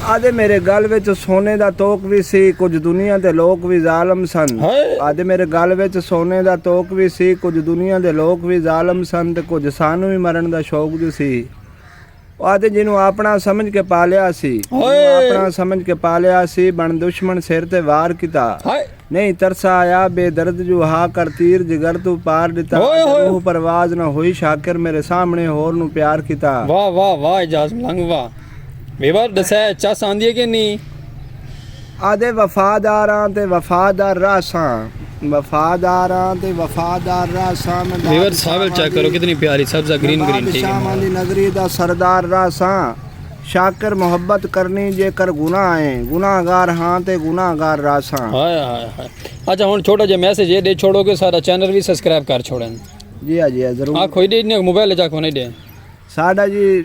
آہدے میݙے ڳل وچ سونے دا توک وی سی کجھ دنیا دے لوک وی ظالم سن آہدے میݙے ڳل وچ سونے دا توک وی سی کجھ دنیا دے لوک وی ظالم سن تے کجھ سانوں وی مرݨ دا شوق جو سی او آہدے جینوں آپݨا سمجھ کے پالیا سی جینوں آپݨا سمجھ کے پالیا سی بݨ دشمن سر تے وار کیتا نئیں ترسا آیا بے درد جو ہا کر تیر جگر توں پار ݙتا آہدے روح پرواز نہ ہوئی شاکر میݙے سامݨے ہور نوں پیار کیتا۔ واہ واہ واہ اعجاز ملنگ واہ۔ میوا ڈسے چس آندیے کہ نی؟ آدھے وفاداراں تے وفادار رہساں وفاداراں تے وفادار رہساں میں میور ساول چیک کرو کتنی پیاری سبزہ گرین گرین ٹھیک ہے دی نظری دا سردار رہساں شاکر محبت کرنی جے کر گناہ ہے گناہ گار ہاں تے گناہ گار رہساں ہائے ہائے ہائے اچھا ہن چھوٹا جے میسج یہ دے چھوڑو کہ سارا چینل بھی سبسکرائب کر چھوڑن جی ہاں جی ہاں ضرور آ کوئی دے موبائل جا کو نہیں دے ساڈا جی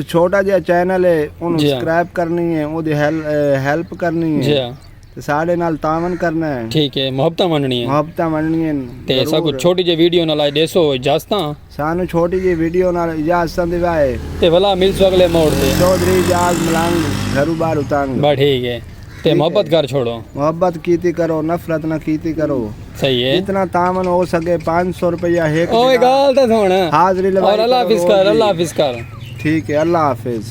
چھوٹا جیہا چینل ہے اونوں سبسکرائب کرنی ہے اودی ہیلپ کرنی ہے تے ساڈے نال تعاون کرنا ہے ٹھیک ہے محبتاں ونڈنی ہیں محبتاں ونڈنی ہیں تے ساکو چھوٹی جی ویڈیو نال دیسو اجازتاں سانو چھوٹی جی ویڈیو نال اجازتاں دیوائے تے بھلا ملسو اگلے موڑ تے چوہدری جاز ملنگ گھرو باہر اتنگ بس ٹھیک ہے تے محبت کر چھوڑو۔ محبت کیتی کرو نفرت نہ کیتی کرو۔ صحیح ہے۔ جتنا تعاون ہو سکے پانچ سو روپیہ ہک جنا۔ اوے گال تے سن۔ حاضری لگائی کرو۔ اور اللہ حافظ کر اللہ حافظ کر۔ ٹھیک ہے اللہ حافظ۔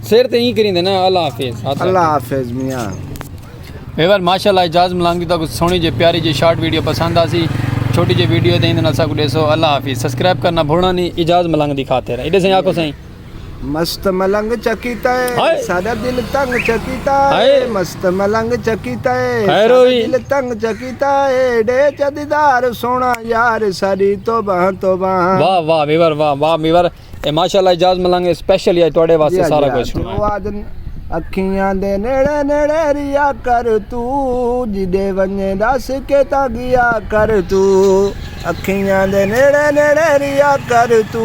سر تے ہی کریندے نا اللہ حافظ۔ اللہ حافظ میاں۔ ویور ماشاءاللہ اعجاز ملانگ دی تاکو سونی جے پیاری جے شارٹ ویڈیو پسند آسی چھوٹی جے ویڈیو دے ہندے نال ساکو ڈیسو اللہ حافظ سبسکرائب کرنا بھولنا نہیں اعجاز ملانگ دی خاطر ایڈے سائیں آکھو سائیں مست ملنگ چا کیتا اے ساڈا دل تنگ چا کیتا اے مست ملنگ چا کیتا اے ساڈا دل تنگ چا کیتا اے ڈے چا دیدار سونا یار ساڈی توبہ توبہ واہ واہ میور واہ واہ میور اے ماشاءاللہ اجاز ملنگ اسپیشل یا تواڈے واسطے جی، سارا کچھ سنایا اکھیاں دے نیڑے نیڑے ریا کر تو جدے ونجے دس کے تا گیا کر تو اکھیاں دے نیڑے نیڑے رہیا کر تو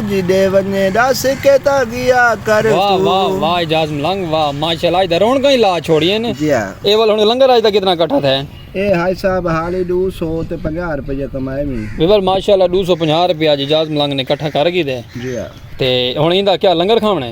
جڈے ونجے ڈس کے تا گیا کر تو واہ واہ واہ اعجاز ملنگ واہ ماشاءاللہ اج دا رونکاں ہی لا چھوڑین جی ہاں اے ول ہن لنگر اج دا کتنا کٹھا تھے اے حاج صاحب حالی ڈو سو تے پنجاہ روپیہ کمائے وی ویول ماشاءاللہ ڈو سو پنجاہ روپیہ اج اعجاز ملنگ نے کٹھا کر گھیدے جی ہاں تے ہن ایندا کیا لنگر کھاونے